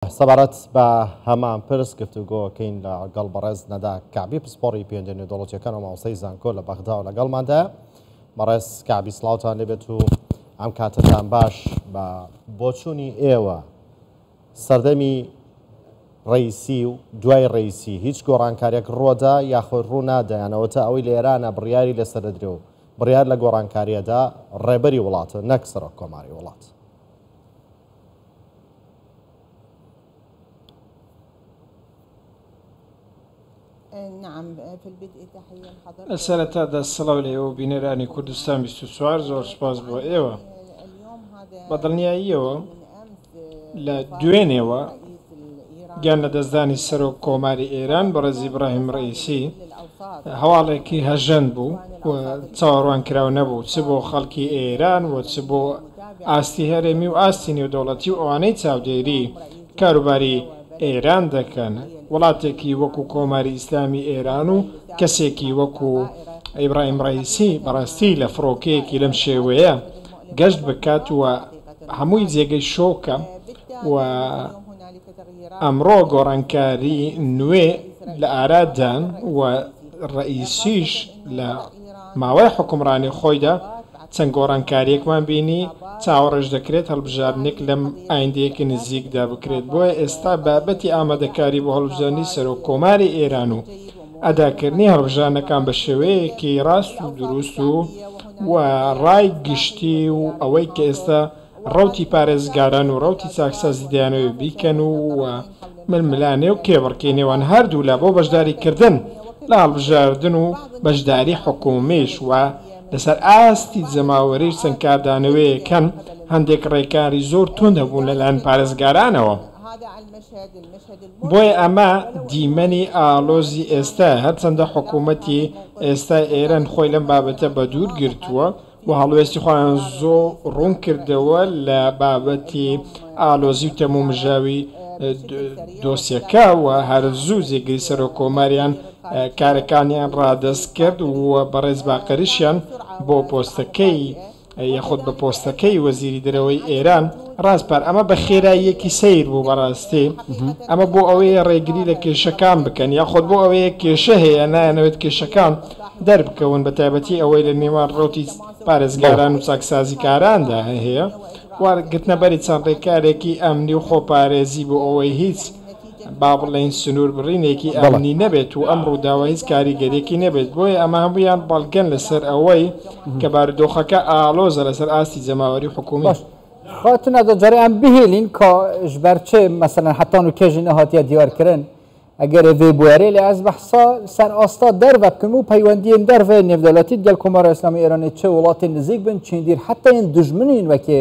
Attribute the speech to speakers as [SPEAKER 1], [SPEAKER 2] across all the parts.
[SPEAKER 1] سەبارەت بە هەمان پرس گفتوگۆ کەین لە گەڵ بەڕێز نەدا کەعبی پسپۆڕی پێوەندیە نێودەوڵەتیەکان و مامۆستای زانکۆ لە بەغدا و لەگەڵماندا بەڕێز کەعبی سڵاوتان لێبێت و ئەم کاتەتان باش بە بۆچوونی ئێوە سەردەمی ڕیسی و دوای ڕیسی هیچ گۆڕانکاریەک ڕوەدا یاخۆی ڕوونادایانەوە تا ئەوەی لە ئێرانە بڕیاری لەسەر دەدرێ و بڕیار لە گۆڕانکاریەدا ڕێبەری وڵاتە نەک سەرۆک کۆماری وڵات.
[SPEAKER 2] لەسەرەتادا سڵاو لە ئێوە بینەرانی کوردستان 24 زۆر سپاس بۆ ئێوە بە دڵنیاییەوە لە دوێنێوە گیان لەدەستدانی سەرۆک کۆماری ئێران بەڕێز ئیبراهیم ڕەئیسی هەواڵێکی هەژەند بوو و چاوەڕوان کراو نەبوو چ بۆ خەڵکی ئێران و چ بۆ ئاستی هەرێمی و ئاستی نێودەوڵەتی و ئەوانەی چاودێری کاروباری ئێران دەکەن وڵاتێکی وەکو کۆماری ئیسلامی ئێران و کەسێکی وەکو ئیبراهیم ڕەئیسی بەڕاستی لە فڕۆکەیەکی لەم شێوەیە گەشت بکات و هەمووی جێگەی شۆکە و ئەمڕۆ گۆڕانکاری نوێ لە ئارادان و ڕەئیسیش لە ماوەی حوکمڕانی خۆیدا چەند گۆڕانکاریەکمان بینی چاوەڕێش دەکرێت هەڵبژاردنێک لەم ئایندەیەکی نزیکدا بکرێت بۆیە ئێستا بابەتی ئامادەکاری بۆ هەڵبژاردنی سەرۆک کۆماری ئێران و ئەداکردنی هەڵبژرانەکان بە شێوەیەکی ڕاست و دروست و و ڕای گشتی و ئەوەی کە ئێستا ڕەوتی پارێزگاران و ڕەوتی چاکسازی دەیانەوێت بیکەن و و ململانێ و کێبڕکێی نێوان هەردوولا بۆ بەشداریکردن لە هەڵبژاردن و بەشداری حکومیش و لەسەر ئاستی جەماوەریش چەند کاردانەوەیەک هەن هەندێک ڕێکاری زۆر توند هەبوون لەلایەن پارێزگارانەوە. بۆیە ئەمە دیمەنی ئاڵۆزی ئێستایە، هەرچەندە حکوومەتی ئێستای ئێران خۆی لەم بابەتە بەدوور گرتووە و هەڵوێستی خۆیان زۆر ڕوون کردەوە لە بابەتی ئاڵۆزی و تەمومژاوی دۆسیەکە و هەر زوو جێگری سەرۆککۆماریان کارەکانیان ڕادەست کرد و بەڕێز باقریشیان بۆ پۆستەکەی یاخود بە پۆستەکەی وەزیری دەرەوەی ئێران ڕاسپارد، ئەمە بە خێراییەکی سەیر بوو بەڕاستی، ئەمە بۆ ئەوەیە ڕێگری لە کێشەکان بکەن، یاخود بۆ ئەوەیە کێشە هەیە نایانەوێت کێشەکان دەربکەون، بە تایبەتی ئەوەی لە نێوان ڕەوتی پارێزگاران و چاکسازیکاراندا هەیە و گرتنەبەری چەند ڕێکارێکی ئەمنی و خۆپارێزی بۆ ئەوەی هیچ با بڵێین سنووربڕینێکی ئەمنی نەبێت و ئەم ڕووداوە هیچ کاریگەرییەکی نەبێت، بۆیە ئەمە هەموویان بەڵگەن لەسەر ئەوەی کە بارودۆخەکە ئاڵۆزە لەسەر ئاستی جەماوەری و حکوومی. خاتون ئەدە
[SPEAKER 3] جارێ ئەم بهێلین کە ژ بەر چێ مەسەلەن هەتا نوو کێژی نەهاتیە دیار کرن، ئەگەرێ ڤێ بوارێ لێ ئەز بەحسا سەر ئاستا دەرڤە بکەم و پەیوەندیێن دەرڤەێ نێودەولەتی دگەل کۆمارا ئیسلامی ئێرانێ چێ وڵاتێ نزیک بن چێندیر حەتەێن دوژمنێن وەکێ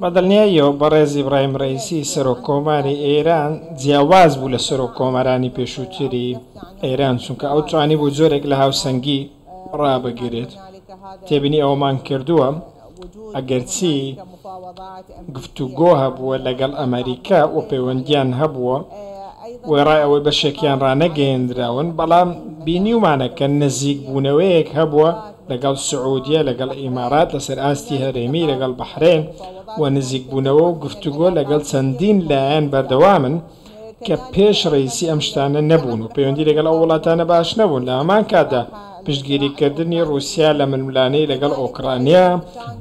[SPEAKER 2] بە دڵنیاییەوە بەڕێز ئیبراهیم ڕەئیسی سەرۆک کۆماری ئێران جیاواز بوو لە سەرۆک کۆمارانی پێشووتری ئێران چونکە ئەو توانی بوو جۆرێک لە هاوسەنگی ڕابگرێت تێبینی ئەوەمان کردووە ئەگەرچی گفتوگۆ هەبووە لەگەڵ ئەمەریکا و پەیوەندیان هەبووە وێڕای ئەوەی بەشێکیان ڕانەگەیەندراون بەڵام بینیومانە کە نزیکبوونەوەیەک هەبووە لەگەڵ سعودیە، لەگەڵ ئیمارات، لەسەر ئاستی هەرێمی، لەگەڵ بەحرەین و نزیکبوونەوە و گفتوگۆ لەگەڵ چەندین لایەن بەردەوامن کە پێش رەئیسی ئەم شتانە نەبوون و پەیوەندی لەگەڵ ئەو وڵاتانە باش نەبوون، لە هەمان کاتدا پشتگیریکردنی روسیا لە ململانێی لەگەڵ ئۆکرانیا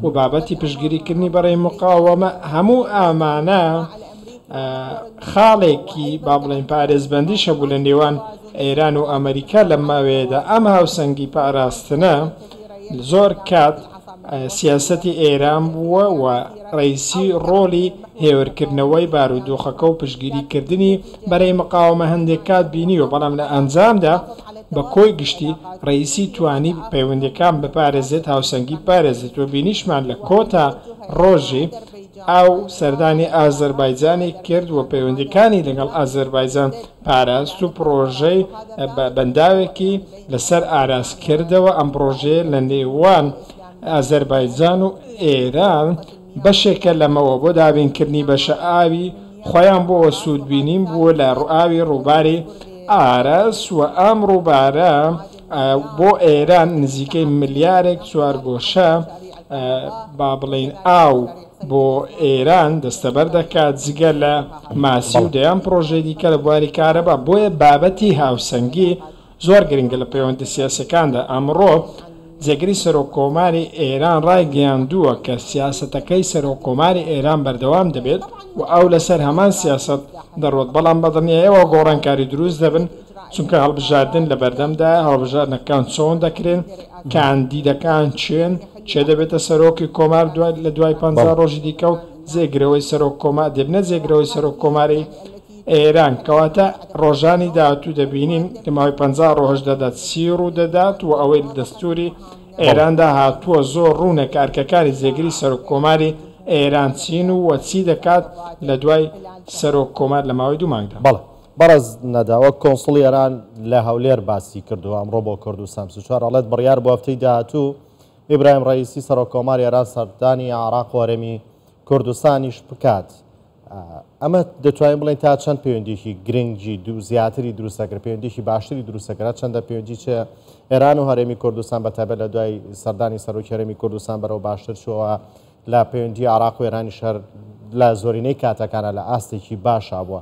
[SPEAKER 2] و بابەتی پشتگیریکردنی بەڕی مقاوەمە، هەموو ئامانە. خاڵێکی با بڵێین پارێزبەندیش هەبوو لە نێوان ئێران و ئەمەریکا لەم ماوەیەدا ئەم هاوسەنگی پاراستنە زۆر کات سیاسەتی ئێران بووە و ڕیسی ڕۆلی هێورکردنەوەی بارودۆخەکە و پشگیریکردنی بەرەی مقاومە هەندێک کات بینیوە بەڵام لە ئەنجامدا بە کۆی گشتی ڕیسی توانی پەیوەندەکان بپارێزێت هاوسەنگی پارێزێت و بینیشمان لە کۆتا ڕۆژی ئەو سەردانی ئازەربایجانی کرد و پەیوەندییەکانی لەگەڵ ئازەربایجان پاراست و پڕۆژەی بە بەنداوێکی لەسەر ئاراست کردەوە، ئەم پڕۆژەیە لە نێوان ئازەربایجان و ئێران بەشێکە لەمەوە بۆ دابینکردنی بەشە ئاوی خۆیان بۆوە سوودبینین بووە لە ئاوی ڕووباری ئاراس و ئەم ڕووبارە بۆ ئێران نزیکەی ملیارێک چوارگۆشە با بڵێین ئاو بۆ ئێران دەستەبەر دەکات جگە لە ماسی و دەیان پرۆژەی دیکە لە بواری کارەبا بۆیە بابەتی هاوسەنگی زۆر گرنگە لە پەیوەندە سیاسەکاندا ئەمڕۆ جێگری سەرۆک کۆماری ئێران ڕایگەیاندووە کە سیاستەکەی سەرۆک کۆماری ئێران بەردەوام دەبێت و ئەو لەسەر هەمان سیاست دەڕۆت بەڵام بەدڵنیایەوە گۆڕانکاری دروست دەبن چونکە هەڵبژاردن لە بەردەمدایە، هەڵبژاردنەکان چۆن دەکرێن، کاندیدەکان کێن، کێ دەبێتە سەرۆکی کۆمار لە دوای پەنجا ڕۆژی دیکە و جێگرەوەی سەرۆک کۆمار دەبنە جێگرەوەی سەرۆک کۆماری ئێران، کەواتە ڕۆژانی داهاتوو دەبینین لە ماوەی پەنجا ڕۆژدادا چی ڕوو دەدات و ئەوەی لە دەستووری ئێراندا هاتووە زۆر ڕوونە کە ئەرکەکانی جێگری سەرۆک کۆماری ئێران چین و چی دەکات لە دوای سەرۆک کۆمار لە ماوەی دوو مانگدا. بەڕێز
[SPEAKER 1] نەدا وەک کۆنسڵی ئێران لە هەولێر باسی کردووە ئەمڕۆ بۆ کوردستان بیست و چوار ئەڵێت بڕیار بووە هەفتەی داهاتوو ئیبراهیم ڕەئیسی سەرۆک کۆماری ئێران سەردانی عێراق و هەرێمی کوردستانیش بکات ئەمە دەتوانین بڵێن تا چەند پەیوەندیکی گرنگی دوو زیاتری دروستەکرد پەیوەندیکی باشتری دروستەکرا چەندە پەیوەندی چێ ئێران و هەرێمی کوردستان بەتابێت لە دوای سەردانی سەرۆکی هەرێمی کوردستان بەرەو باشتر چووە لە پەیوەندی عراق و ئێرانی شەر لە زۆرینەی کاتەکانە لە ئاستێکی باشا بووە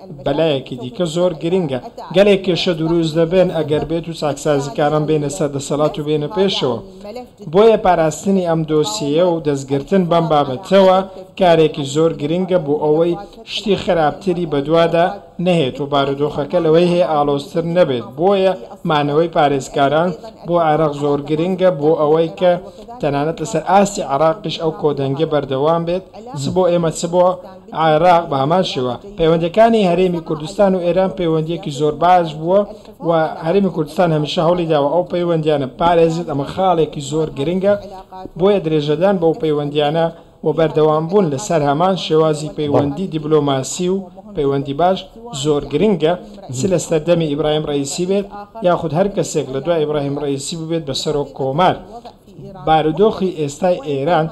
[SPEAKER 2] بەلایەکی دیکە زۆر گرنگە گەلێک کێشە دروست دەبێن ئەگەر بێت و چاکسازیکاران بێنە سەر دەسەلات و بێنە پێشەوە بۆیە پاراستنی ئەم دۆسیەیە و دەستگرتن بەم بابەتەوە کارێکی زۆر گرنگە بۆ ئەوەی شتی خراپتری بەدوادا نەهێت و بارودۆخەکە لەوەی هەیە ئاڵۆزتر نەبێت بۆیە مانەوەی پارێزکاران بۆ عێراق زۆر گرنگە بۆ ئەوەی کە تەنانەت لەسەر ئاستی عێراقیش ئەو کۆدەنگیە بەردەوام بێت چ بۆ ئێمە چ بۆ عێراق بە هەمان شێوە پەیوەندیەکانی هەرێمی کوردستان و ئێران پەیوەندیەکی زۆر باش بووە و هەرێمی کوردستان هەمیشە هەوڵی داوە ئەو پەیوەندیانە پارێزت ئەمە خاڵێکی زۆر گرنگە بۆیە درێژەدان بەو پەیوەندیانە و بەردەوام بوون لەسەر هەمان شێوازی پەیوەندی دیبلۆماسی و پەیوەندی باش زۆر گرنگە چ لە سەردەمی ئیبراهیم ڕەیسی بێت یاخود هەر کەسێک لە دوای ئیبراهیم ڕەیسی ببێت بە سەرۆک کۆمار بارودۆخی ئێستای ئێران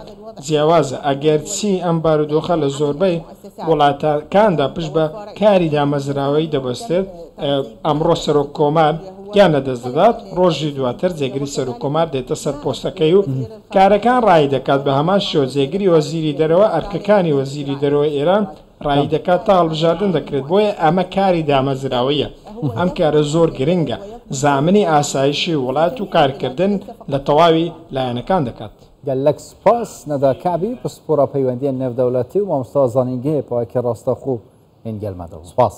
[SPEAKER 2] جیاوازە، ئەگەرچی ئەم بارودۆخە لە زۆربەی وڵاتەکاندا پشت بە کاری دامەزراوەیی دەبەستێت، ئەمڕۆ سەرۆک کۆمار گیان لەدەست دەدات، ڕۆژی دواتر جێگری سەرۆک کۆمار دێتە سەر پۆستەکەی و کارەکان ڕایی دەکات، بە هەمان شێوە جێگری وەزیری دەرەوە ئەرکەکانی وەزیری دەرەوەی ئێران ڕاییدەکات تا هەڵبژاردن دەکرێت، بۆیە ئەمە کاری دامەزراوەییە، ئەم کارە زۆر گرنگە، زامنی ئاسایشی وڵات و کارکردن لە تەواوی لایەنەکان دەکات. گەلەک سوپاس
[SPEAKER 3] نەدا کەعبی پسپۆڕە پەیوەندیە نێودەولەتی و ماموستا زانینگەیە
[SPEAKER 1] پەوەکی
[SPEAKER 3] ڕاستەخۆ و هینگەل مەدەوە. سوپاس.